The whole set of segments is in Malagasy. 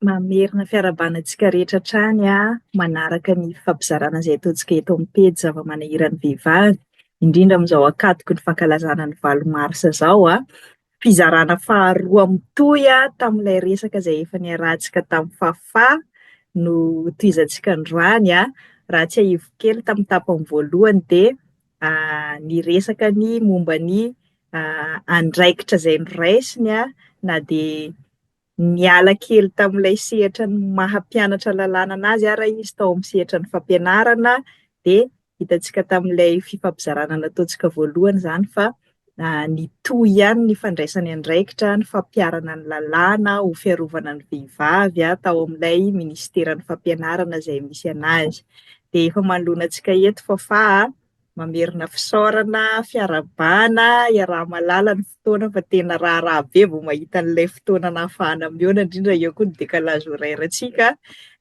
Mamerina fiarahabana antsika rehetra hatrany manaraka ny fampizarana izay ataontsika eto amin'ny pejy zava-manahiran'ny vehivavy, indrindra amin'izao ankatoky ny fankalazana ny valo marsa izao. fizarana faharoa mitohy tamin'ilay resaka izay efa niarahantsika tamin'i Fafà no tohizantsika androany an! Raha tsiahiviko kely tamin'ny tapany voalohany dia niresaka ny momba ny andraikitra izay noraisiny na dia Niala kely tamin'ilay sehatra ny maha mpianatra lalàna an'azy ara izy tao amin'ny sehatra ny fampianarana dia hitantsika tamin'ilay fifampizarana nataontsika voalohany izany fa nitohy ihany ny fandraisany andraikitra ny fampiharana ny lalàna ho fiarovana ny vehivavy tao amin'ilay minisiteran'ny fampianarana izay misy an'azy dia efa manoloana antsika eto fa fa Mamerina fisaorana, fiarahabana, iaraha-mahalala ny fotoana fa tena raharaha be vao mahita an'ilay fotoana nahafahana mihaona, indrindra eo koa ny décalage horaire antsika,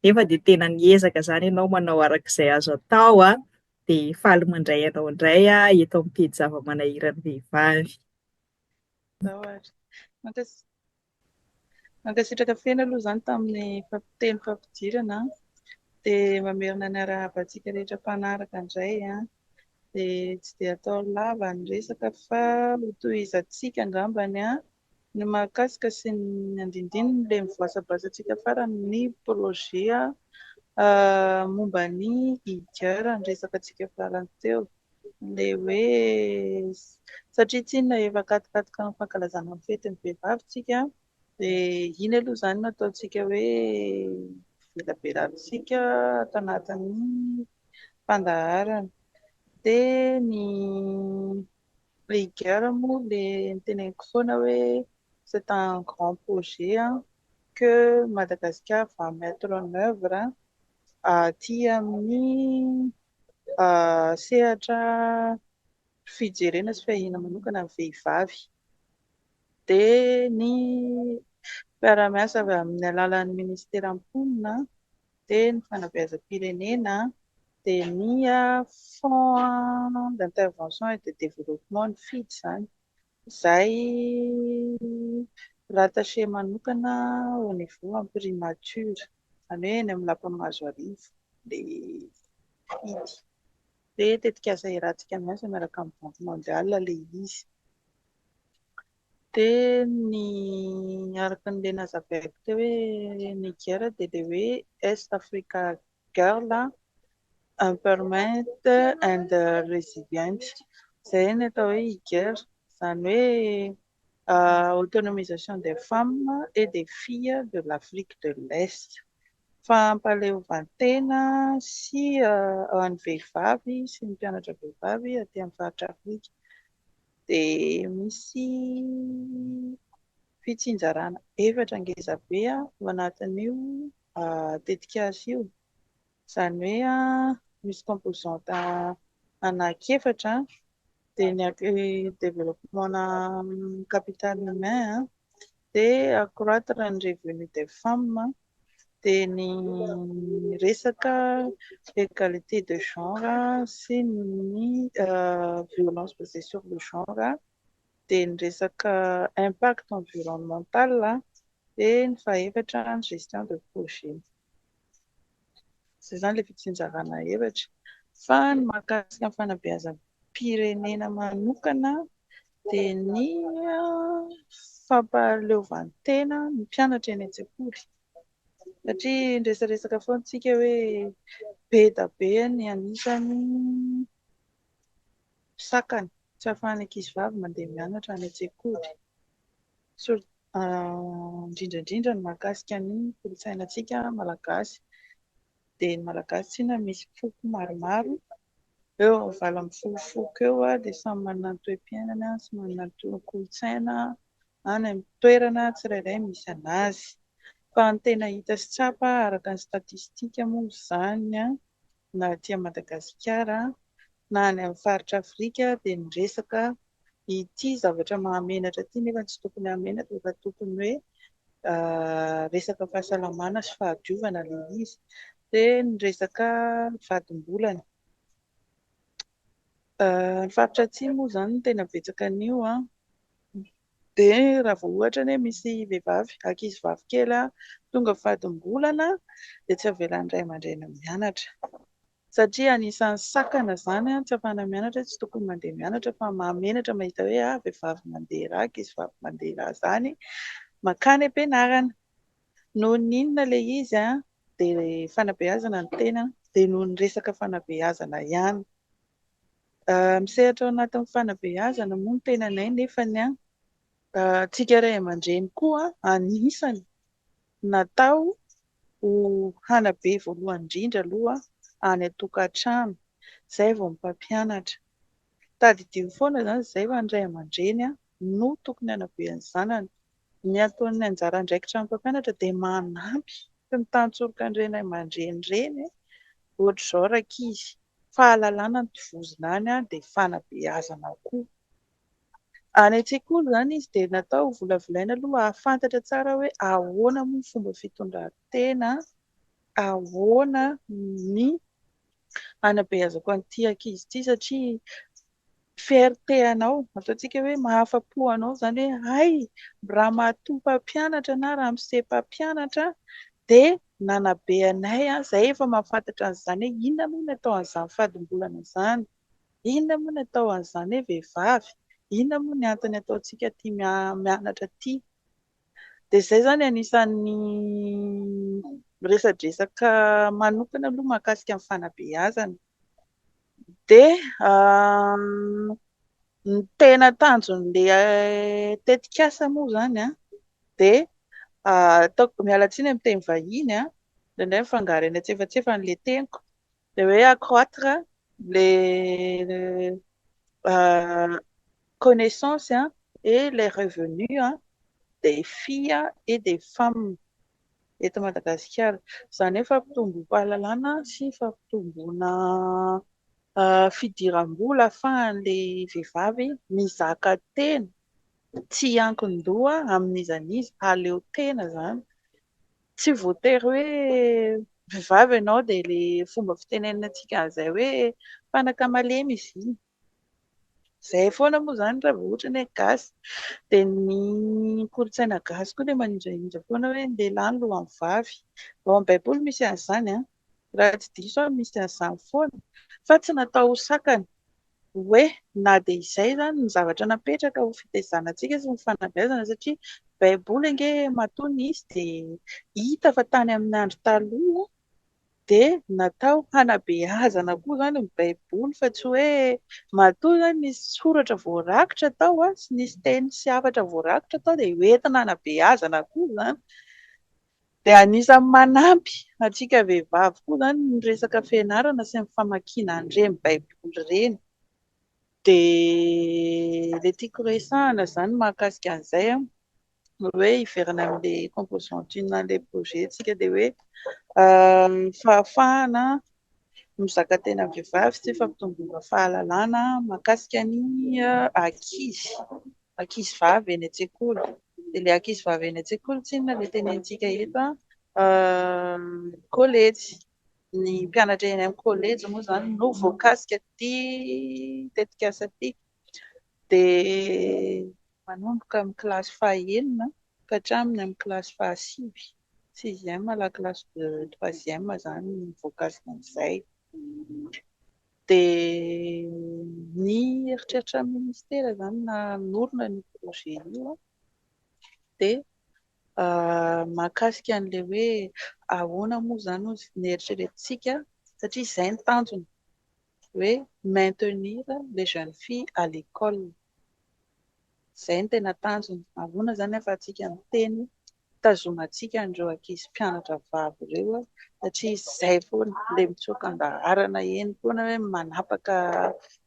nefa dia tena niezaka izany ianao manao araka izay azo atao an, dia faly mandray anao indray aho eto amin'ny pejy zava-manahiran'ny vehivavy. Ianao ary. Mankasitra. Mankasitraka feno aloha izany tamin'ny teny fampidirana an! Dia mamerina ny arahaba antsika rehetra mpanaraka indray an! Dia tsy dia atao lava ny resaka fa ho tohizantsika angambany an! Ny mahakasika sy ny andindininy ilay mivoasabasa antsika farany ny projet momba ny IGR niresaka antsika farany teo. ilay hoe satria tsy inona efa akatikatiko amin'ny fankalazana ny fetin'ny vehivavy isika dia iny aloha izany no ataontsika hoe velabelanintsika ato anatin'ny fandaharana. Dia ny Heiger moa ilay noteneniko foana hoe c'est un grand projet que Madagascar va mettre en oeuvre. aty amin'ny sehatra fijerena sy fiahiana manokana ny vehivavy dia ny mpiara-miasa avy amin'ny alalan'ny minisitera mponina dia ny fanabeazam-pirenena dia ny fonds d'intervention et de développement ny fidy izany Izay rattacher manokana au niveau imprimature, izany hoe eny amin'ny lapan'i Mahazoarivo ilay idy. Hoe tetikasa iarahantsika miasa miaraka amin'ny Banque Mondiale ilay izy. Dia ny araka an'ilay nazavaiko teo hoe Niger dia ilay hoe Est Africa girl, empowerment and resilient, izay ny atao hoe IGER, izany hoe autonomisation des femmes et des filles de l'Afrique de l'Est, fampahaleovantena sy ho an'ny vehivavy sy ny mpianatra vehivavy aty amin'ny faritra Afrika, dia misy fitsinjarana efatra ngeza be ao anatin'io. tetikasa io, izany hoe misy composante anankiefatra, dia ny développement capital humain, dia accroitre ny revenu des femmes, dia ny resaka égalité de genre sy ny violence basée sur le genre. dia ny resaka impact environnemental dia ny fahefatra ny gestion de projet. Izay izany ilay fitsinjarana hevitra. Fa ny mahakasika ny fanabeazam-pirenena manokana dia ny fampahaleovan-tena ny mpianatra eny an-tsekoly. Satria niresaresaka foana isika hoe be da be ny anisan'ny. sakana, tsy ahafahan'ny ankizivavy mandeha mianatra any an-tsekoly, indrindra indrindra ny mahakasika ny kolontsainantsika malagasy, dia ny malagasy tsy inona misy foko maromaro eo amin'ny valo ambin'ny folo foko eo dia samy manana ny toe-piainana sy manana ny kolontsaina any amin'ny toerana tsirairay misy an'azy, fa ny tena hita sy tsapa araka ny statistika moa izany an! na aty Madagasikara na any amin'ny faritra Afrika dia miresaka ity zavatra mahamenatra ity nefa tsy tokony hahamenatra fa tokony hoe resaka fahasalamana sy fahadiovana ilay izy dia ny resaka vadim-bolana ny faritra atsimo moa izany tena betsaka an'io an Dia raha vao ohatra anie misy vehivavy, ankizivavy kely tonga fadim-bolana dia tsy avelan'ny ray aman-dreny mianatra. Satria anisan'ny sakana izany tsy afahana mianatra hoe tsy tokony mandeha mianatra fa mahamenatra mahita hoe ah vehivavy mandeha ra, ankizivavy mandeha ra izany mankany am-pianarana. Noho ny inona ilay izy dia fanabeazana ny tena dia noho ny resaka fanabeazana ihany. Misehatra ao anatin'ny fanabeazana moa ny tenanay nefa ny antsika ray aman-dreny koa anisany natao ho hanabe voalohany indrindra aloha any an-tokantrano, izay vao ny mpampianatra. Tadidio foana izany izay fa ny ray aman-dreny no tokony hanabe ny zanany Ny ataon'ny anjara andraikitran'ny mpampianatra dia manampy sy mitantsoroka ny ray aman-dreny ireny ohatr'izao rankizy, fahalalana no tovozina any dia fanabeazana koa. Any an-tsekoly izany izy dia natao ho volavolaina aloha hahafantatra tsara hoe ahoana moa ny fomba fitondran-tena, ahoana ny hanabeazako an'ity ankizy ity satria fierté anao, ataontsika hoe mahafa-po anao izany hoe hay raha matoa mpampianatra na ramose mpampianatra dia nanabe anay, izahay efa mahafantatra an'izany hoe inona moa ny atao an'izany fadimbolana izany, inona moa ny atao an'izany hoe vehivavy, inona moa ny antony ataontsika tia mianatra ity. Dia izay izany anisan'ny miresadresaka manokana aloha mahakasika ny fanabeazana. Dia ny tena tanjon'ilay tetikasa moa izany dia ataoko, miala tsiny amin'ny teny vahiny indraindray mifangaro eny antsefatsefany ilay teniko, Dia hoe accroître le connaissance et les revenus des filles et des femmes eto Madagasikara. Izany hoe fampitombom-pahalalana sy fampitomboana fidiram-bola ahafahan'ilay vehivavy mizaka tena tsy hiankin-doha amin'iza n'iza, hahaleo tena izany Tsy voatery hoe vehivavy ianao dia ilay fomba fitenenantsika an'izay hoe fanaka malemy izy iny. Izay foana moa izany raha vao ohatra ny hoe gasy. Dia ny kolontsaina gasy koa dia manindrahindra foana hoe ny lehilahy no lohan'ny vavy. Ao amin'ny baiboly misy an'izany an! raha tsy diso aho misy an'izany foana, fa tsy natao ho sakana hoe na dia izay izany ny zavatra napetraka ho fitaizanantsika sy ny fanabeazana satria baiboly ange matoa nisy dia hita fa tany amin'ny andro taloha dia natao hanabeazana koa izany ny baiboly fa tsy hoe matoa izany nisy soratra voarakitra tao sy nisy teny sy hafatra voarakitra tao dia hoentina hanabeazana koa izany Dia anisan'ny manampy antsika vehivavy koa izany ny resaka fianarana sy ny famakiana an'ireny baiboly ireny. Dia ilay tiako resahina izany mahakasika an'izay ny hoe hiverina amin'ilay composant une an'ilay projet-ntsika dia hoe ny fahafahana mizaka tena vehivavy sy fampitomboana fahalalana mahakasika ny ankizy. ankizivavy eny an-tsekoly. Dia ilay ankizivavy eny an-tsekoly tsinona ilay tenenintsika eto an, kôlejy. Ny mpianatra eny amin'ny kôlejy moa izany no voakasika ity tetikasa ity. Dia manomboka amin'ny kilasy fahenina ka hatramin'ny amin'ny kilasy fahasivy, sixième à la classe de troisième, izany no voakasika an'izay. Dia ny eritreritran'ny ministera izany nanorina an'io projet io dia mahakasika an'ilay hoe ahoana moa izany no neritreretintsika satria izay ny tanjona hoe maintenir les jeunes filles à l'école. Izay no tena tanjony. Ahoana izany ahafahantsika miteny hitazomantsika an'ireo ankizy mpianatra vavy ireo satria izay foana ilay mitsoaka an-daharana eny foana hoe manapaka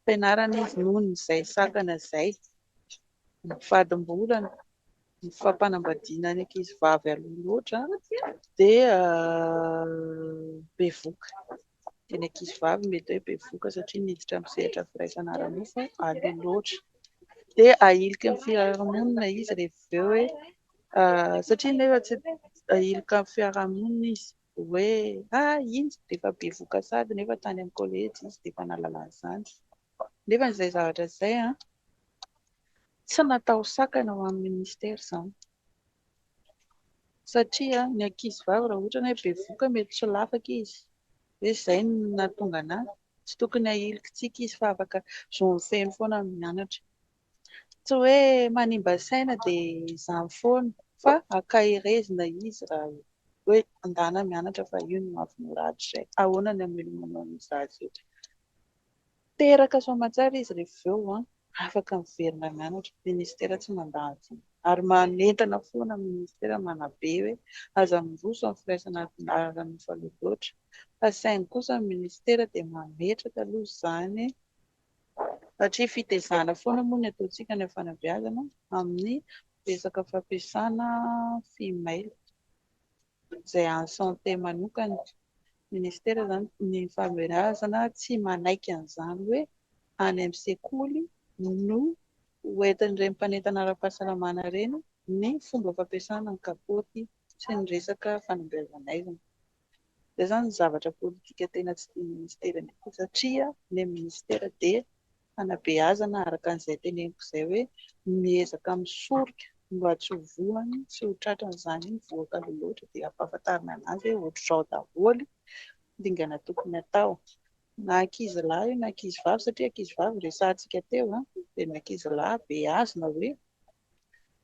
fianarana izy noho ny izay sakana izay ny fadim-bolany, ny fampanambadiana ny ankizy vavy aloha loatra dia bevoka. dia ny ankizivavy mety hoe bevoka satria miditra amin'ny sehatra firaisana ara-nofo aloha loatra. Dia ahilika amin'ny fiarahamonina izy rehefa avy eo hoe satria nefa tsy ahilika amin'ny fiarahamonina izy hoe ah iny dia efa bevoka sahady nefa tany amin'ny kolejy izy dia efa nahalala an'izany. Nefa izay zavatra izay an, tsy natao sakana ho an'ny minisitera izany. Satria ny ankizy vavy raha ohatra ny hoe bevoka mety tsy ho lafaka izy, hoe izay no nahatonga anah, tsy tokony hahilikintsika izy fa afaka zony feno foana ny mianatra. Tsy hoe manimba saina dia izany foana fa ankaherezina izy raha hoe andàna mianatra fa io no mahafinaritra izay. Ahoana ny hamelomanao ny zaza eo? Teraka soamantsara izy rehefa avy eo an! Afaka miverina mianatra, ministera tsy mandà vola ary manentana foana ny ministera manabe hoe aza miroso amin'ny firaisana ara-dalana efa loha loatra fa saingy kosa ny ministera dia mametraka aloha izany satria fitezana foana moa ny ataontsika any amin'ny fanabeazana amin'ny resaka fampiasana fimail. izay en santé manokana, ministera izany ny fahalehibiazana tsy manaiky an'izany hoe any amin'ny sekoly no ho entin'ireny mpanentana ara-pahasalamana ireny ny fomba fampiasana ny kapaoty sy ny resaka fanabeazan'aizina. Izay izany zavatra politika tena tsy tian'ny ministera mihitsy satria ny ministera dia fanabeazana araka an'izay teneniko izay hoe miezaka misorika mba tsy ho voany sy ho tratran'izany voakaloha loatra dia ampahafantarina an'azy hoe ohatr'izao daholo dingana tokony atao na ankizy lahy io na ankizy vavy satria ankizy vavy resahantsika teo a dia ny ankizy lahy beazina hoe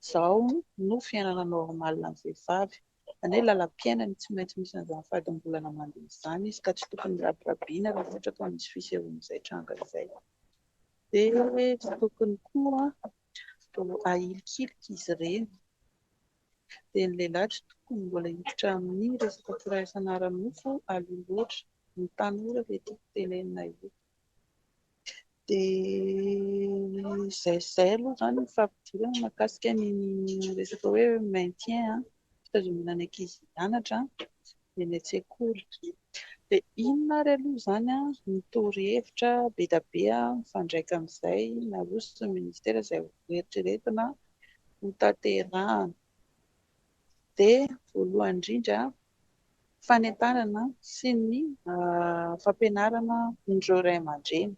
izao no fiainana normal an'ny vehivavy Izany hoe lalam-piainany tsy maintsy misy an'izany fahadimbolana mandeha izany izy ka tsy tokony rabirabiana raha ohatra ka misy fisehoan'izay tranga izay. Dia tsy tokony koa ahilikilika izy ireny. Dia ny lehilahy tsy tokony mbola hiditra amin'ny resaka firaisan'ara-nofo aloha loatra. Ny tanora ve tiako tenenina eto? Dia izay izay aloha izany ny fampidirana mahakasika ny resaka hoe maintien an, fitazonana ny ankizy hianatra dia ny an-tsekoly. Dia inona ary aloha izany ny torohevitra be dia be mifandraika amin'izay naroson'ny ministera izay hoeritreretina hotanterahina. Dia voalohany indrindra fanentanana sy ny fampianarana an'ireo ray aman-dreny.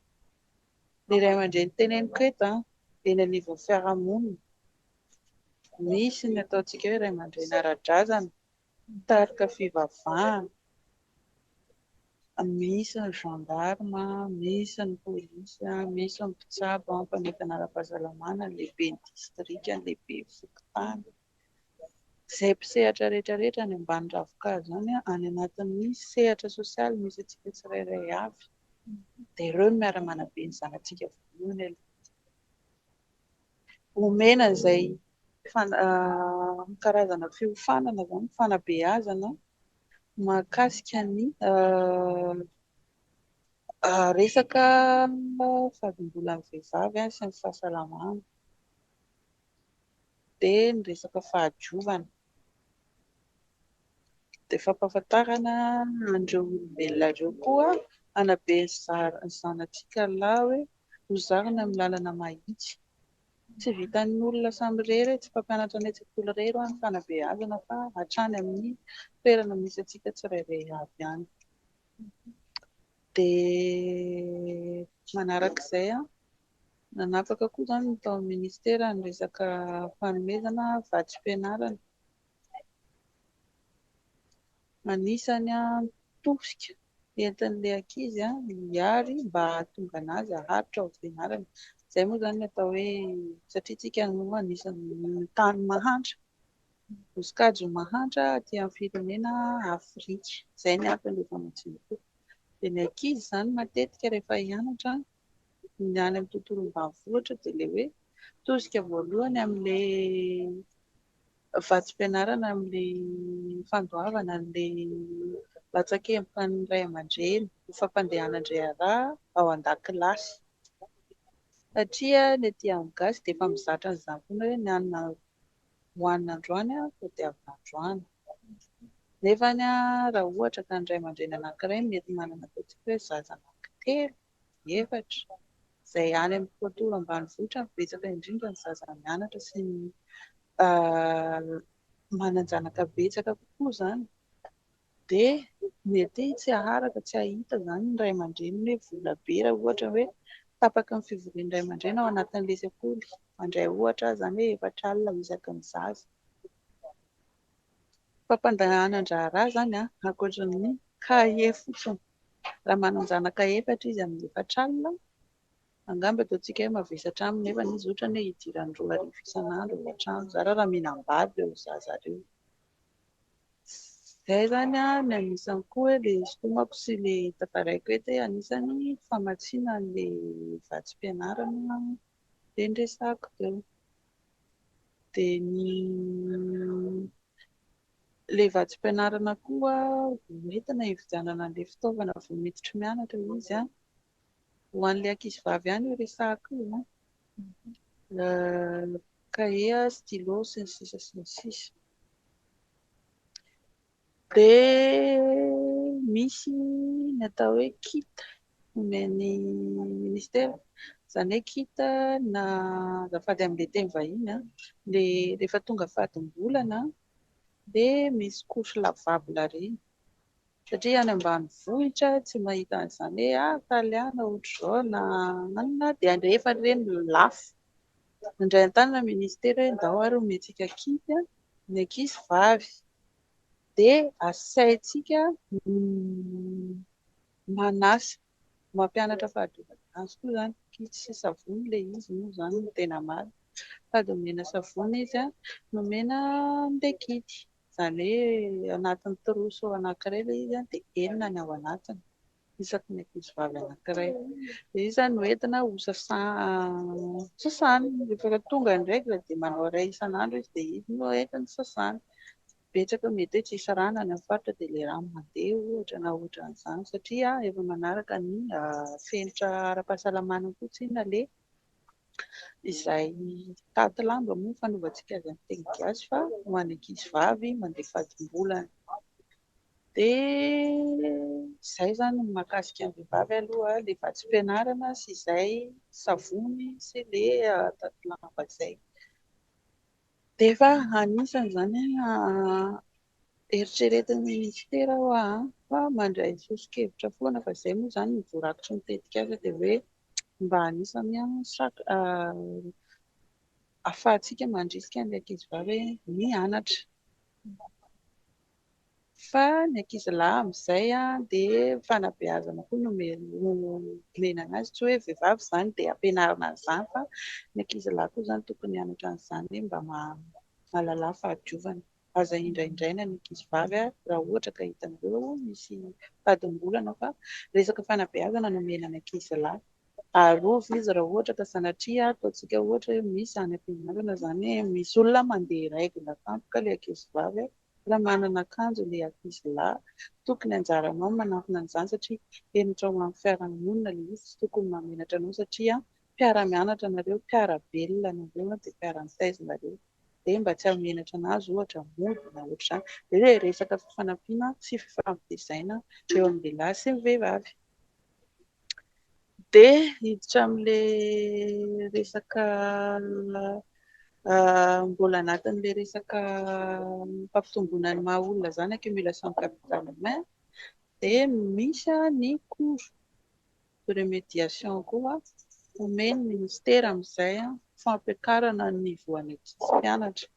Ny ray aman-dreny teneniko eto dia eny anivon'ny fiarahamonina. Misy ny ataontsika hoe ray aman-dreny ara-drazana, mpitarika fivavahana, misy ny gendarme, misy ny polisy, misy ny mpitsabo, mpanentana ara-pahasalamana, ny lehiben'ny distrika, ny lehiben'ny fokontany. izay mpisehatra rehetra rehetra any ambany ravin-kazo izany any anatin'ny sehatra sosialy misy antsika tsirairay avy dia ireo no miara-manabe ny zanatsika voalohany aloha omena izay karazana fiofanana izany fanabeazana mahakasika ny resaka fahadimbolan'ny vehivavy sy ny fahasalamana be ny resaka fahadiovana dia fampahafantarana an'ireo olombelona ireo koa hanabe ny zanatsika lahy hoe ho zarina amin'ny lalana mahitsy. Tsy vitan'ny olona samy irery, tsy mpampianatra ny an-tsekoly irery ho'a ny fanabeazana fa hatrany amin'ny toerana misy antsika tsirairay avy ihany. Dia manarak'izay. Nanapaka koa izany ny tao amin'ny minisitera ny resaka fanomezana vatsim-pianarana. Anisan'ny antoka entin'ilay ankizy hiary mba hahatonga an'azy haharitra ny fianarany. Izay moa izany no atao hoe satria isika no anisan'ny tany mahantra, no sokajy mahantra aty amin'ny firenena Afrika. Izay ny anton'ilay famatsiam-bola. Dia ny ankizy izany matetika rehefa hianatra ny any amin'ny tontolo ambanivohitra dia ilay hoe tosika voalohany amin'ilay vatsim-pianarana amin'ilay fandoavana an'ilay latsakempon'ny ray aman-dreny ho fampandehanan-draharaha ao an-dakilasy. Satria ny aty amin'ny gasy dia efa mizatra an'izany foana hoe ny hanina hohanina androany aho tadiavina androany. Nefa raha ohatra ka ny ray aman-dreny anankiray mety manana ataontsika hoe zaza anankitelo, ny efatra, izay any amin'ny tontolo ambanivohitra no betsaka indrindra ny zaza mianatra sy ny manan-janaka betsaka kokoa izany dia mety tsy haharaka, tsy hahita izany ny ray aman-dreny hoe vola be raha ohatra hoe tapaka ny fivorian'ny ray aman-dreny ao anatin'ilay sekoly, mandray ohatra aho izany hoe efatra alina isaky ny zaza. Fampandehanan-draharaha izany ankoatra ny kahie fotsiny. Raha manan-janaka efatra izy amin'ny efatra alina, angamba ataontsika hoe mavesatra aminy nefa izy ohatra hoe idirany roa arivo isan'andro ao an-trano. Zara raha mihinam-bary ireo zaza ireo. Izay izany no anisany koa hoe ilay isintomako sy ilay tantaraiko eto hoe anisany famatsiana an'ilay vatsim-pianarana dia ny resahako teo. dia ny ilay vatsim-pianarana koa vao nentina hividianana an'ilay fitaovana vao miditra mianatra izy an, ho an'ilay ankizy vavy ihany io resahako io an, cahier, stylo sy ny sisa sy ny sisa. Dia misy ny atao hoe kit omen'ny ministera, izany hoe kit na azafady amin'ilay teny vahiny an, dia rehefa tonga fadim-bolana dia misy couche lavable ireny, satria any ambanivohitra tsy mahita an'izany hoe ah taliana ohatr'izao na inona dia alefa ireny lafo. Mandray an-tanana ministera hoe ndao ary homentsika kit ny ankizy vavy. Dia asaintsika manasa, mampianatra fahadiovana azy koa izany. Kit sy savony ilay izy moa izany no tena marina. Sady omena savony izy no omena an'ilay kit. Izany hoe anatin'ny trousseau anankiray ilay izy dia enina ny ao anatiny. isaky ny ankizivavy anankiray. Dia izy izany no entina ho sasany. Rehefa tonga ny règle dia manao iray isan'andro izy dia izy no entina sasany. Betsaka mety hoe tsy hisy rà na any amin'ny faritra dia ilay rano mandeha ohatra na ohatran'izany satria efa manaraka ny fenitra ara-pahasalamana koa tsy inona ilay izay taty lamba moa ny fanovantsika azy amin'ny teny gasy fa ho an'ny ankizivavy mandeha fadim-bolana. Dia izay izany ny mahakasika ny vehivavy aloha, ilay vatsim-pianarana sy izay, savony sy ilay adaty lamba izay. Dia efa anisany izany eritreretin'ny minisitera hoa fa mandray soso-kevitra foana fa izay moa izany no voarakitry ny tetikasa dia hoe mba anisany ahafahantsika mandrisika ny ankizivavy ny hianatra. Fa ny ankizilahy amin'izay dia fanabeazana koa no omena an'azy, tsy hoe vehivavy izany dia ampianarina an'izany fa ny ankizilahy koa izany tokony hianatra an'izany hoe mba mahalala ny fahadiovana. Aza indraindraina ny ankizivavy raha ohatra ka hitanareo misy fahadimbolana fa resaka fanabeazana no omena ny ankizilahy. Arovy izy raha ohatra ka sanatria ataontsika ohatra hoe misy any am-pianarana izany hoe misy olona mandeha règle tampoka ilay ankizivavy. Mbola manana akanjo le ankizy lahy, tokony anjaranao ny manantona an'izany satria henatra ho an'ny fiarahamonina le izy, tsy tokony mamenatra anao satria mpiara-mianatra nareo, mpiara-belona nareo dia mpiara-mitaiza nareo dia mba tsy hamenatra anazy ohatra mody na ohatr'izany, dia resaka fifanampiana sy fifampitezaina eo amin'ny lehilahy sy ny vehivavy. Dia hiditra amin'ilay resaka mbola anatin'ilay resaka fampitomboana ny maha olona izany accumulation de capital humain dia misy ny cours de remédiation koa omen'ny minisitera amin'izay ho fampiakarana ny niveau an'ny ankizy mpianatra.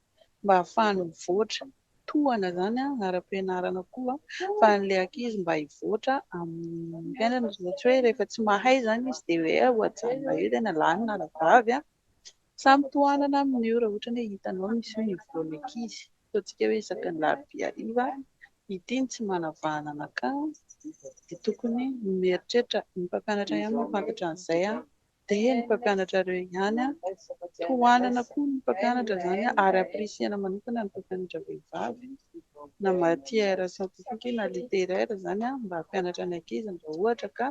mba hahafahany mivoatra, tohana izany an, ara-pianarana koa fa an'ilay ankizy mba hivoatra amin'ny fiainana izany tsy hoe rehefa tsy mahay izany izy dia hoe ho ajanona eo tena lahy na vavy an, samy tohanana amin'io raha ohatra hoe hitanao misy hoe nivoana ankizy, ataontsika hoe isaky ny larobia hariva ity ny tsy manavahana anakah dia tokony mieritreritra ny mpampianatra ihany no hahafantatra an'izay an. dia ny mpampianatra reo ihany an, tohanana koa ny mpampianatra zany ary appreciena manokana ny mpampianatra vehivavy na matière scientifique na littéraire zany an mba hampianatra ny ankizy ny raha ohatra ka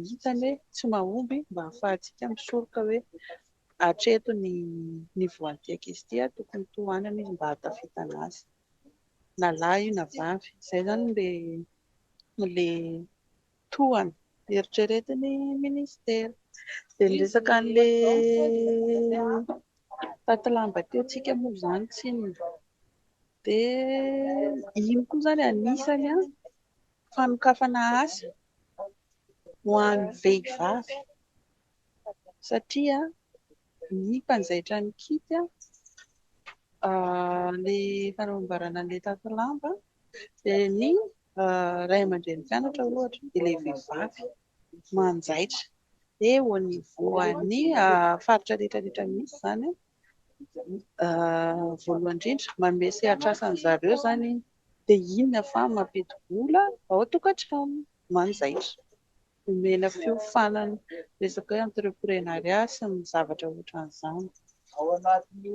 hitany hoe tsy mahomby mba hafahantsika misoroka hoe hatreto ny niveau an'ity ankizy ity an, tokony tohanana izy mba hahatafitana azy na lahy io na vavy, zay zany le le toa ny eritreretin'ny minisitera. Dia ny resaka an'ilay taty lamba teo tsika moa izany tsinona. Dia iny koa izany anisany fanokafana asa ho an'ny vehivavy. satria ny mpanjaitra nikiky ny fanambarana an'ilay tato lamba dia ny ray aman-drenin'ny mpianatra ohatra dia ilay vehivavy manjaitra dia au niveau an'ny faritra rehetra rehetra misy izany voalohany indrindra manome sehatr'asa an'i zareo izany iny dia inona fa mampidi-bola ao an-tokantrano manjaitra. Omena fiofanana resaka hoe entreprenariat sy ny zavatra ohatran'izany.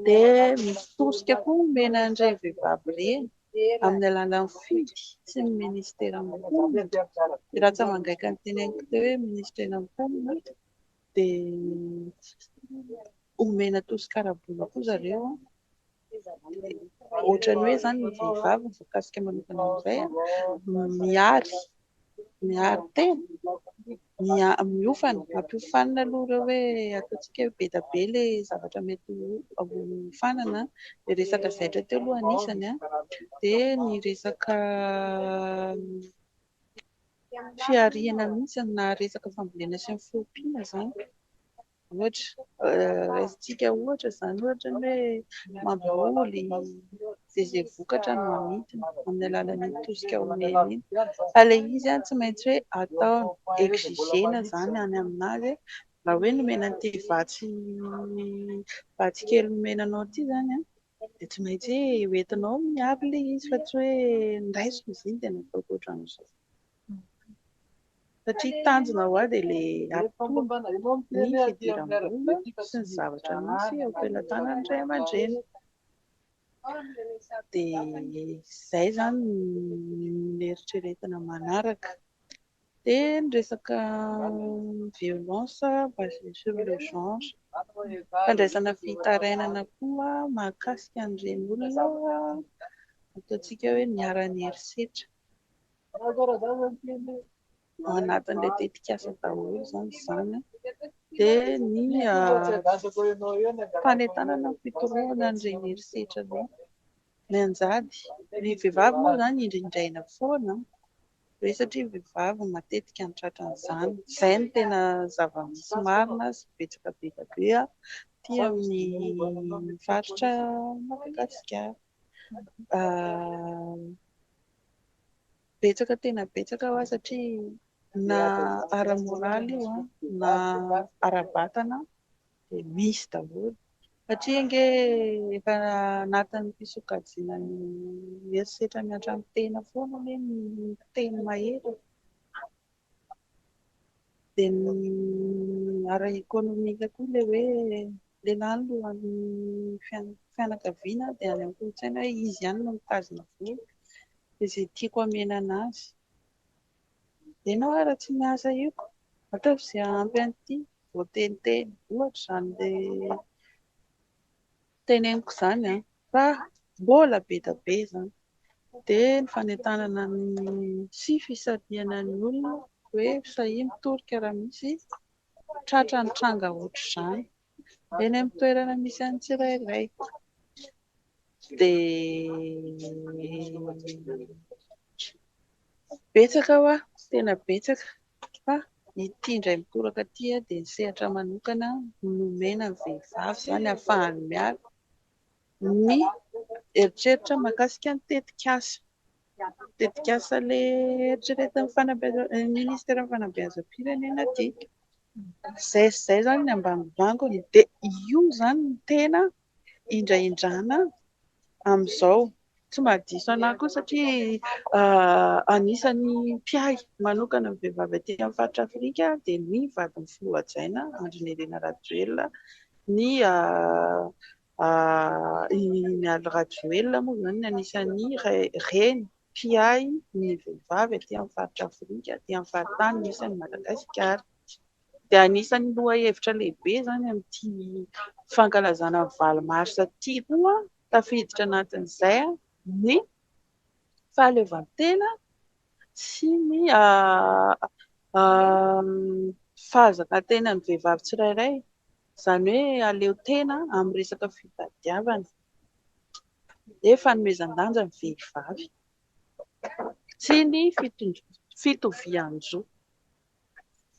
Dia misy tosika koa omena an'ireny vehivavy ireny amin'ny alalan'ny fidy sy ny minisitera mponina. Dia raha tsy aman-gaika ny teneniko teo hoe minisitera mponina dia omena tosika ara-bola koa zareo. Ohatran'ny hoe izany ny vehivavy mikasika manokana an'izay a, miaro, miaro tena, mia- miofana, ampiofanina aloha ireo hoe ataontsika hoe be dia be ilay zavatra mety ho hiofanana, ny resaka zaitra teo aloha anisany a, dia ny resaka fihariana mihitsy na resaka fambolena sy ny fiompiana izany. Ohatra, raisintsika ohatra izany ohatra ny hoe mamboly dia izay vokatra no amidiny amin'ny alalan'iny tosika omeny iny fa ilay izy tsy maintsy hoe ataony, exigena izany any amin'azy raha hoe nomena an'ity vatsy vatsy kely nomena anao ity izany an! dia tsy maintsy ho entinao miaro ilay izy fa tsy hoe niraiso izy iny dia nataoko ohatran'izao. Satria tanjona ho ahy dia ilay hampitony ny fidiram-bola sy ny zavatra misy eo am-pelatanan'ny ray aman-dreny. Dia izay izany no eritreretina manaraka. Dia ny resaka violence basée sur le genre, fandraisana fitarainana koa mahakasika an'ireny olona ataontsika hoe niharan'ny herisetra. Ao anatin'ilay tetikasa daholo izany izany. Dia ny fanentanana ny fitorohana an'ireny herisetra ireny. Mianjady. Ny vehivavy moa izany indrindraina foana. be satria ny vehivavy no matetika no tratran'izany. Izay no tena zava-misy marina sy betsaka be dia be aty amin'ny faritra Madagasikara. Betsaka tena betsaka ho'a satria na ara-moraly io na ara-batana. dia misy daholo satria ange efa anatin'ny fisokajiana ny herisetra miantra amin'ny tena foana hoe ny teny mahery dia ny ara ekonomika koa ilay hoe lehilahy no lohan'ny fianakaviana dia any amin'ny kolontsaina hoe izy ihany no mitazona vola dia izay tiako hamenana azy Ianao ary tsy miasa io ka ataovy izay hahampy an'ity voateniteny, ohatra izany ilay teneniko izany an, fa mbola be dia be izany, dia ny fanentanana ny sy fisarihana ny olona hoe sahia mitoroka raha misy tratra nitranga ohatr'izany. Eny amin'ny toerana misy an'ny tsirairay dia betsaka hoa, tena betsaka fa ity indray mitoraka ity dia ny sehatra manokana nomena ny vehivavy izany hahafahany miala ny eritreritra mahakasika ny tetikasa. Tetikasa le eritreretin'ny fanabeazam-pirenena ministeran'ny fanabeazam-pirenena ty izay sy izay izany ny ambangombangony dia io izany no tena indraindrana amin'izao, tsy mahadiso anah koa satria anisan'ny mpiahy manokana ny vehivavy aty amin'ny faritra Afrika dia ny vadin'ny filoha hajaina Andry Nirina Rajoelina ny I Mialy Rajoelina moa izany anisan'ny reny mpiahy ny vehivavy aty amin'ny faritra Afrika, aty amin'ny faritany misy an'i Madagasikara. Dia anisan'ny lohahevitra lehibe izany amin'ity fankalazana ny valo marsa ity koa, tafiditra anatin'izay ny fahaleovantena sy ny fahazakatenan'ny vehivavy tsirairay. Izany hoe aleo tena amin'ny resaka fitadiavana. Dia fanomezan-danja ny vehivavy. Tsy ny fitovian-jo.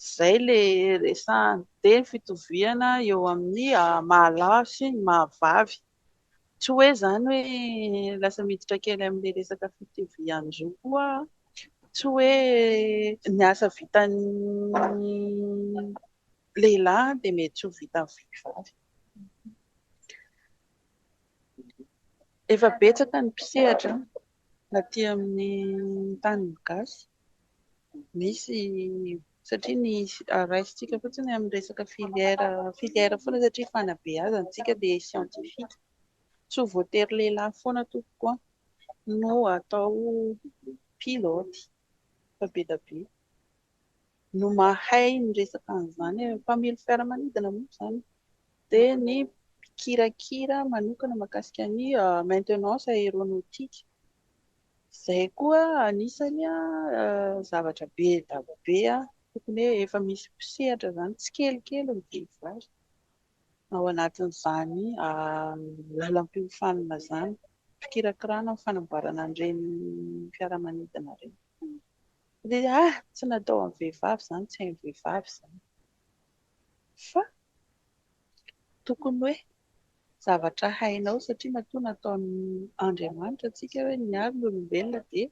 Izay ilay resahana. Dia ny fitoviana eo amin'ny maha lahy sy ny maha vavy. Tsy hoe izany hoe lasa miditra kely amin'ilay resaka fitovian-jo koa aho. Tsy hoe ny asa vitan'ny. lehilahy dia mety ho vitan'ny vehivavy. Efa betsaka ny mpisehatra aty amin'ny tanin'ny gasy. Misy satria ny raisintsika fotsiny amin'ny resaka filière filière foana satria fanabeazana antsika dia scientifique. Tsy ho voatery lehilahy foana tompoko an no atao pilote fa be dia be. no mahay miresaka an'izany, mpamily fiaramanidina moa izany, dia ny mpikirakira manokana mahakasika ny maintenance aéronautique, izay koa anisany zavatra be daba be tokony hoe efa misy mpisehatra izany tsikelikely ny vehivavy ao anatin'izany lalam-piofanana izany, fikirakirana ny fanamboarana an'ireny fiaramanidina ireny. le a tsy natao amin'ny vehivavy zany tsy hain'ny vehivavy izany fa tokony hoe zavatra hainao satria matoa nataon'Andriamanitra antsika hoe miaro ny olombelona dia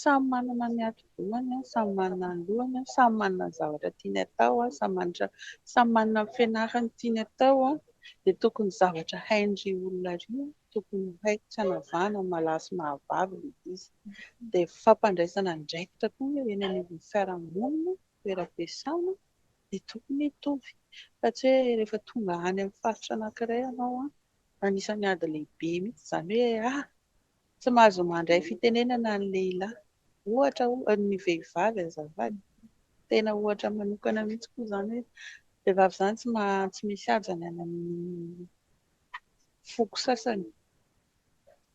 samy manana ny hati-dohany an, samy manana ny lohany an, samy manana ny zavatra tiany atao an, samy manana samy manana ny fianarany tiany atao an, dia tokony zavatra hain'ireo olona ireo an. tokony ho hay tsy hanavahana ny malaha sy mahavavy ilay izy. Dia fampandraisana andraikitra koa eo eny anivon'ny fiarahamonina, toeram-piasana dia tokony hitovy. Fa tsy hoe rehefa tonga any amin'ny faritra anankiray ianao, anisan'ny ady lehibe mihitsy izany hoe ah! tsy mahazo mandray fitenenana ny lehilahy, ohatra oh, ny vehivavy azafady. Tena ohatra manokana mihitsy koa izany hoe vehivavy izany tsy misy haja ny any amin'ny foko sasany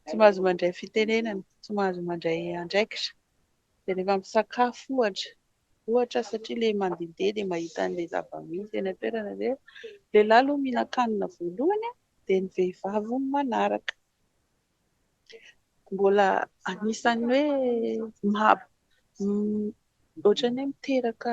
tsy mahazo mandray fitenenana, tsy mahazo mandray andraikitra dia rehefa misakafo ohatra, ohatra satria ilay mandehandeha dia mahita an'ilay zava-misy eny an-toerana dia lehilahy aloha mihinan-kanina voalohany dia ny vehivavy manaraka. Mbola anisan'ny hoe maha ohatran'ny hoe miteraka.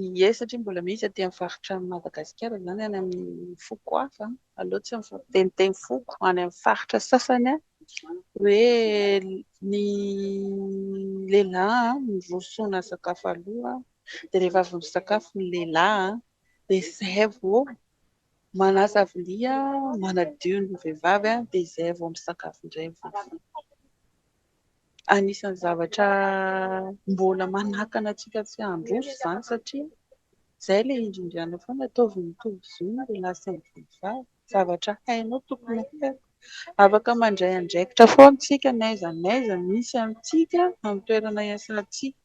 Ie satria mbola misy aty amin'ny faritra an'i Madagasikara izany any amin'ny foko hafa aleo tsy miteniteny foko any amin'ny faritra sasany hoe ny lehilahy no rosoana sakafo aloha dia rehefa avy misakafo ny lehilahy dia izay vao manasa vilia manadio ny vehivavy dia izay vao misakafo indray ny vehivavy. anisan'ny zavatra mbola manakana antsika tsy handroso izany satria izay ilay indrindranao foana ataovy mitovy zo ny lehilahy sy ny vehivavy, zavatra hainao tokony ho haiko, afaka mandray andraikitra foana isika n'aiza n'aiza misy antsika amin'ny toerana iasantsika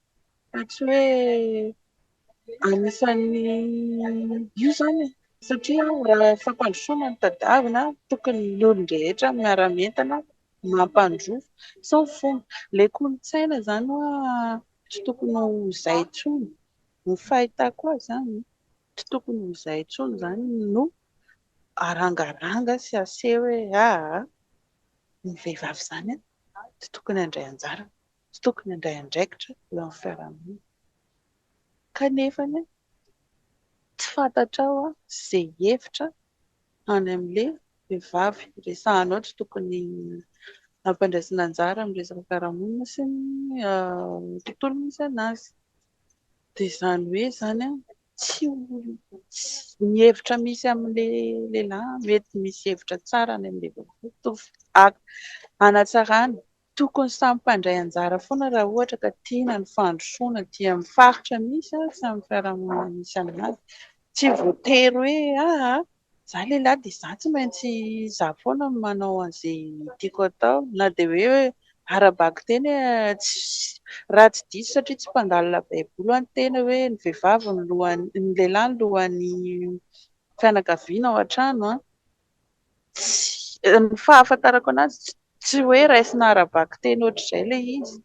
fa tsy hoe anisan'ny io izany e! satria raha fampandrosoana no tadiavina tokony ny olon-drehetra miara-mientana mampandroso sao fomba le kolontsaina zany hoa tsy tokony ho zay tsony ny fahitako azy zany tsy tokony ho zay tsony zany no arangaranga sy aseho hoe aa ny vehivavy zany tsy tokony andray anjara tsy tokony andray andraikitra eo amin'ny fiarahamonina kanefa Tsy fantatrao an ze hevitra any amle vehivavy resahanao tsy tokony ampandraisina anjara am resaka fiarahamonina sy ny tontolo misy anazy de zany hoe zany an tsy ny hevitra misy amle lehilahy mety misy hevitra tsara any amle vehivavy mitovy hanatsarana Tokony samy mpandray anjara foana raha ohatra ka tiana ny fandrosoana dia amin'ny faritra misy azy sy amin'ny fiarahamonina misy an'azy. Tsy voatery hoe aa za lehilahy dia za tsy maintsy za foana no manao an'izay tiako atao na dia hoe ara-bakiteny raha tsy diso satria tsy mpangalina baiboly ho'a ny tena hoe ny vehivavy no lohan'ny ny lehilahy no lohan'ny fianakaviana ao an-trano an! Tsy, ny fahafantarako anazy tsy tsy hoe raisina ara-bakiteny ohatr'izay ilay izy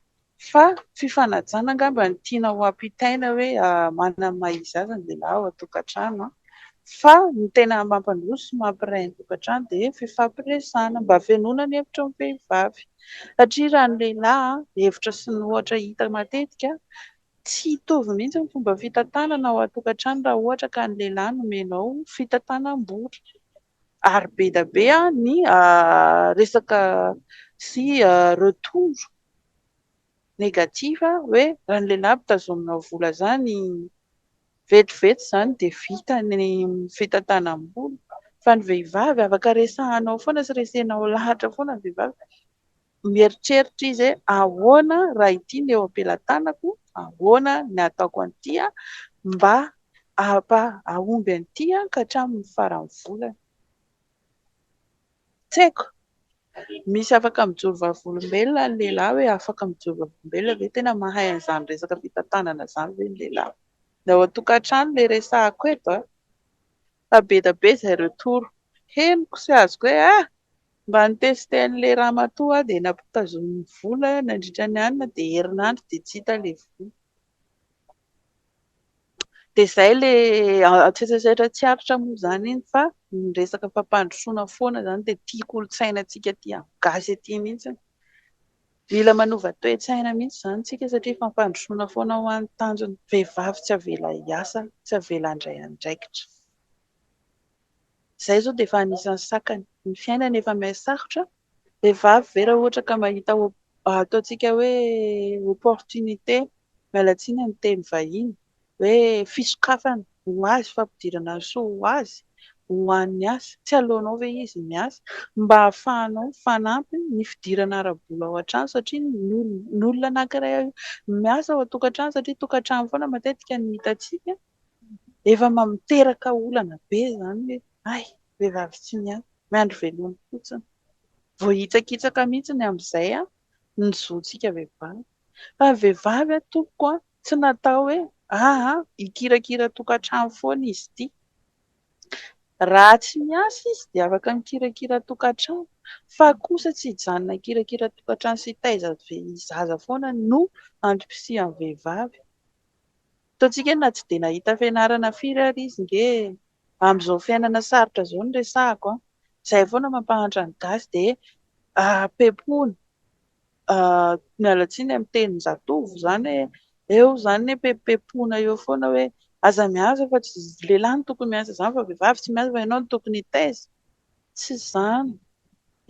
fa fifanajana angamba no tiana ho ampitaina hoe manana ny maha izy azy ny lehilahy ao an-tokantrano an! fa ny tena mampandroso sy mampiray ny tokantrano dia ny fifampiresahana mba hafenoana ny hevitry ny vehivavy satria raha ny lehilahy an! hevitra sy ny ohatra hita matetika Tsy hitovy mihitsy ny fomba fitantanana ao an-tokantrano raha ohatra ka ny lehilahy no omenao fitantanam-bola. Ary be dia be ny resaka sy retour négatif hoe raha ny lehilahy mpitazonina vola izany, vetivety izany dia vita ny fitantanam-bola. Fa ny vehivavy afaka resahanao foana sy resenao lahatra foana ny vehivavy. Mieritreritra izy hoe, Ahoana raha ity no eo am-pelatanako? Ahoana ny hataoko an'ity mba hahomby an'ity ka hatramin'ny faran'ny volana? Tsy haiko. Misy afaka mijoro vavolombelona ny lehilahy ve? Afaka mijoro vavolombelona ve? Tena mahay an'izany resaka fitantanana izany ve ny lehilahy? Ny ao an-tokantrano ilay resahako eto an! Fa be dia be izay retour henoko sy azoko hoe, ah! Mba nitester an'ilay ramatoa aho dia nampitazoniny vola nandritra ny alina dia herinandro dia tsy hita ilay vola. Dia izay ilay antsetrasetra tsy aritra moa izany iny fa ny resaka fampandrosoana foana izany dia tia kolontsaina antsika tia gasy aty mihitsy. Mila manova toe-tsaina mihitsy izany isika satria fampandrosoana foana hoa ny tanjona. Vehivavy tsy avela hiasa, tsy avela handray andraikitra. Izay izao dia efa anisan'ny sakany. Ny fiainana efa miha sarotra. Vehivavy ve raha ohatra ka mahita ataontsika hoe opportunité, miala tsiny amin'ny teny vahiny, hoe fisokafana ho azy, fampidirana ny soa ho azy, ho an'ny asa. Tsy aleonao ve izy miasa mba hahafahanao mifanampy ny fidirana ara-bola ao an-trano satria ny olona anankiray miasa ao an-tokantrano satria tokantrano foana matetika no hitantsika. Efa miteraka olana be izany hoe hay, vehivavy tsy miasa, miandry veloma fotsiny. Voahitsakitsaka mihitsy ny amin'izay ny zontsika vehivavy. Fa ny vehivavy tompoko tsy natao hoe aa hikirakira tokantrano foana izy ity. Raha tsy miasa izy dia afaka mikirakira tokantrano fa kosa tsy hijanona hikirakira tokantrano sy hitaiza zaza foana no antom-pisian'ny vehivavy. Ataontsika na tsy dia nahita fianarana firy ary izy nge e! Amin'izao fiainana sarotra izao no resahako an! Izay foana mampahantra ny gasy dia pepony, miala tsiny amin'ny tenin-jatovo izany hoe eo izany ny pepepona eo foana hoe aza miasa fa tsy lehilahy no tokony miasa izany fa vehivavy tsy miasa fa ianao no tokony hitaiza! Tsy izany!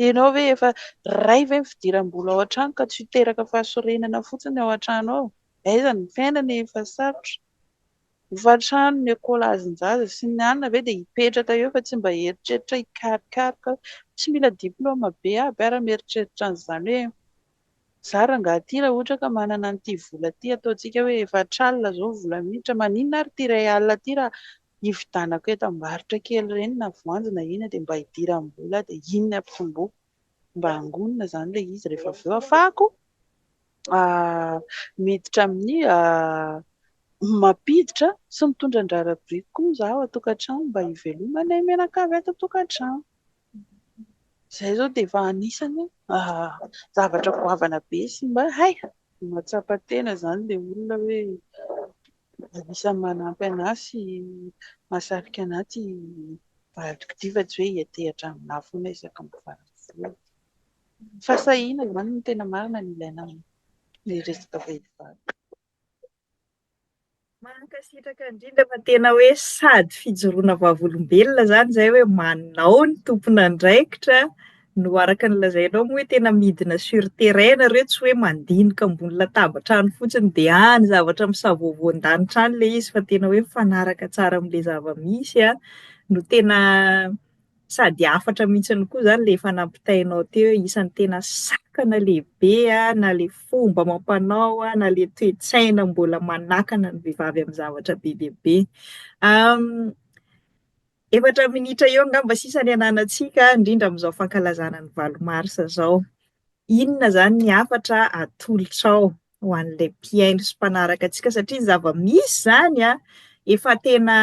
Ianao ve efa ray ve ny fidiram-bola ao an-trano ka tsy ho teraka fahasorenana fotsiny ao an-trano ao? Aiza ny fiainana e fa sarotra. Hofantrano ny ekolazinjaza sy ny anona ve dia hipetraka eo fa tsy mba hieritreritra hikarikaroka hoe tsy mila diploma be aby ara mieritreritra an'izany hoe za rangahy ty raha ohatra ka manana an'ity vola ty ataontsika hoe efatra alina zao vola miditra maninona ary ty iray alina ty raha hividanako entam-barotra kely ireny na voanjo na inona dia mba hidiram-bola dia inona ampitomboiko mba hangonina izany ilay izy rehefa avy eo afahako miditra amin'ny mampiditra sy mitondra andrara biriky koa izaho atokantrano mba hivelomanay mianakavy ato atokantrano. Izay izao dia efa anisany zavatra goavana be sy mba hay mahatsapa tena izany ilay olona hoe Anisan'ny manampy an'ahy sy mahasarika an'ahy ity vadiko ity fa tsy hoe hiantehatra amin'ahy foana aho isaky ny mivady foana. Fahasahiana izany no tena marina no ilaina amin'ny resaka vehivavy. Mankasitraka indrindra fa tena hoe sady fijoroana vavolombelona izany izay hoe manao ny tompon'andraikitra. No araka ny lazainao moa hoe tena midina sur terrain ianareo tsy hoe mandinika ambony latabatra any fotsiny dia any zavatra misavoavoan-danitra any ilay izy fa tena hoe mifanaraka tsara amin'ilay zava-misy an, no tena sady hafatra mihitsy koa izany ilay efa nampitainao teo hoe isan'ny tena sakana lehibe an, na ilay fomba amam-panao an, na ilay toe-tsaina mbola manakana ny vehivavy amin'ny zavatra be dia be. Efatra minitra eo angamba sisa ny ananantsika, indrindra amin'izao fankalazana ny valo mars izao. Inona izany ny hafatra atolotrao ho an'ilay mpihaino sy mpanaraka antsika? Satria ny zava-misy izany an, efa tena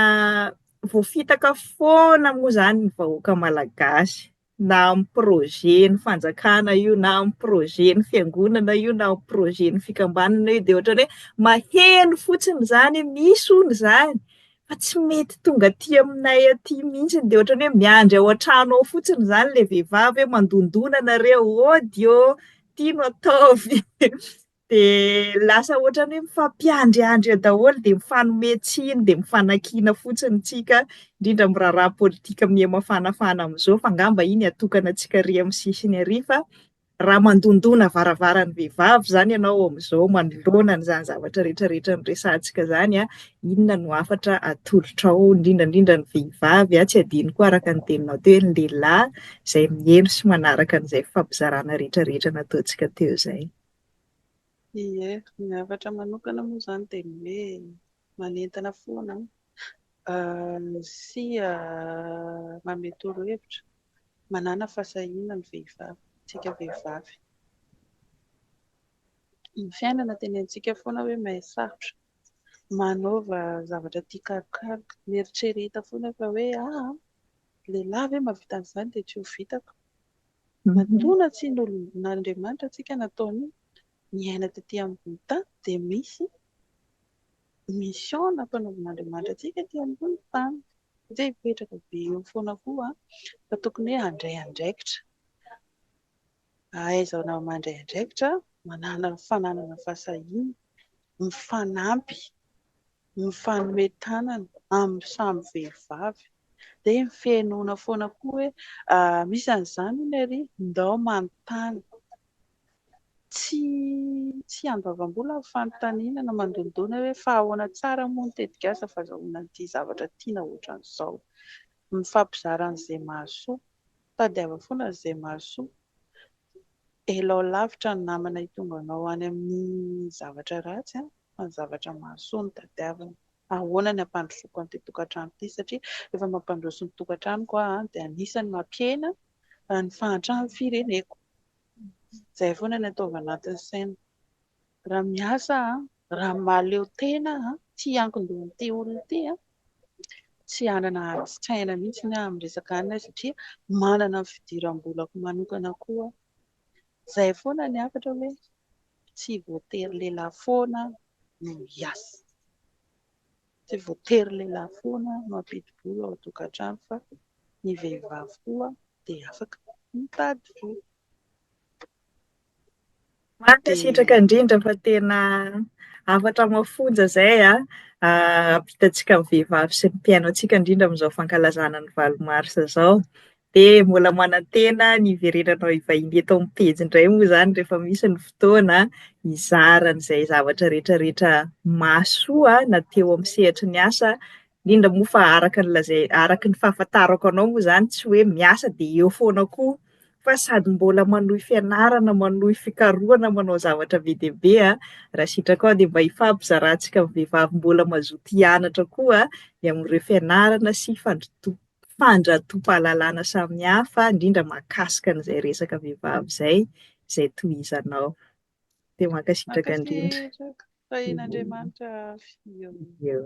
voafitaka foana moa izany ny vahoaka malagasy. na amin'ny projet ny fanjakana io na amin'ny projet ny fiangonana io na amin'ny projet ny fikambanana io dia ohatran'ny hoe maheno fotsiny izany misy hono izany fa tsy mety tonga aty aminay aty mihitsy dia ohatran'ny hoe miandry ao an-trano ao fotsiny izany ilay vehivavy hoe mandondona nareo ôdy ô ity no ataovy Dia lasa ohatran'ny hoe mifampiandriandry eo daholo, dia mifanome tsiny, dia mifanakiana fotsiny ntsika, indrindra amin'ny raharaha politika miha-mafanafana amin'izao, fa angamba iny atokana antsika ary amin'ny sisiny ary, fa raha mandondona varavaran'ny vehivavy izany ianao amin'izao, manoloana an'izany zavatra rehetra rehetra noresahantsika izany, inona no hafatra atolotrao, indrindra indrindra ny vehivavy, tsy adino koa araka ny teninao teo hoe ny lehilahy izay miheno sy manaraka an'izay fifampizarana rehetra rehetra nataontsika teo izay. Ie, ny hafatra manokana moa izany dia ny hoe manentana foana sy manome torohevitra, manàna fahasahiana ny vehivavy, isika vehivavy. Ny fiainana tenentsika foana hoe mahay sarotra, manaova zavatra tia karokaroka, mieritrereta foana fa hoe ahaa, lehilahy ve mahavita an'izany dia tsy ho vitako? Matoana tsy nolombin'Andriamanitra antsika nataony niaina tety ambony tany dia misy mission nampanaovin'Andriamanitra antsika ety ambony tany satria hipetraka be eo foana koa fa tokony hoe handray andraikitra, ahaizana mandray andraikitra, manana fananana fahasahiana, mifanampy. mifanome tanana amin'ny samy vehivavy dia ny fihenoana foana koa hoe misy an'izany hono ery ndao manontany tsy tsy andoavam-bola ny fanontaniana na mandondona hoe fa ahoana tsara moa ny tetikasa fazahoana an'ity zavatra tiana ohatran'izao mifampizara an'izay mahasoa tadiava foana an'izay mahasoa elao lavitra ny namana hitonganao any amin'ny zavatra ratsy an! fa ny zavatra mahasoa no tadiaviny. Ahoana ny hampandrosoako an'ity tokantrano ity satria rehefa mampandroso ny tokantranoko aho dia anisan'ny mampihena ny fahantran'ny fireneko. Izay foana ny ataovy anatin'ny saina. Raha miasa aho, raha mahaleo tena aho, tsy hiankin-dohan'ity olona ity aho, tsy hanana adin-tsaina mihitsy aho amin'ny resaka anona satria manana ny fidiram-bolako manokana koa aho. Izay foana ny hafatra hoe tsy voatery lehilahy foana no hiasa. Tsy voatery lehilahy foana no hampidi-bola ao an-tokantrano fa ny vehivavy koa dia afaka mitady vola. Mankasitraka indrindra fa tena hafatra mafonja izay hampitantsika ny vehivavy sy ny mpihaino antsika indrindra amin'izao fankalazana ny valo marsa izao. Dia mbola manantena ny hiverenanao hivahiny eto amin'ny pejy indray moa izany rehefa misy ny fotoana hizara an'izay zavatra rehetrarehetra mahasoa na teo amin'ny sehatry ny asa, indrindra moa fa araka ny lazai- araka ny fahafantarako anao moa izany tsy hoe miasa dia eo foana koa fa sady mbola manohy fianarana, manohy fikarohana, manao zavatra be dia be an! raha sitraka aho dia mba hifampizarantsika vehivavy mbola mazoto hianatra koa ny amin'ireo fianarana sy fandrotoana. fandratopahlalana samihafa indrindra makasika an'izay resaka vehivavy izay izay tohizanao dia mankasitraka indrindra Mankasitraka, tahian'Andriamanitra avy eo.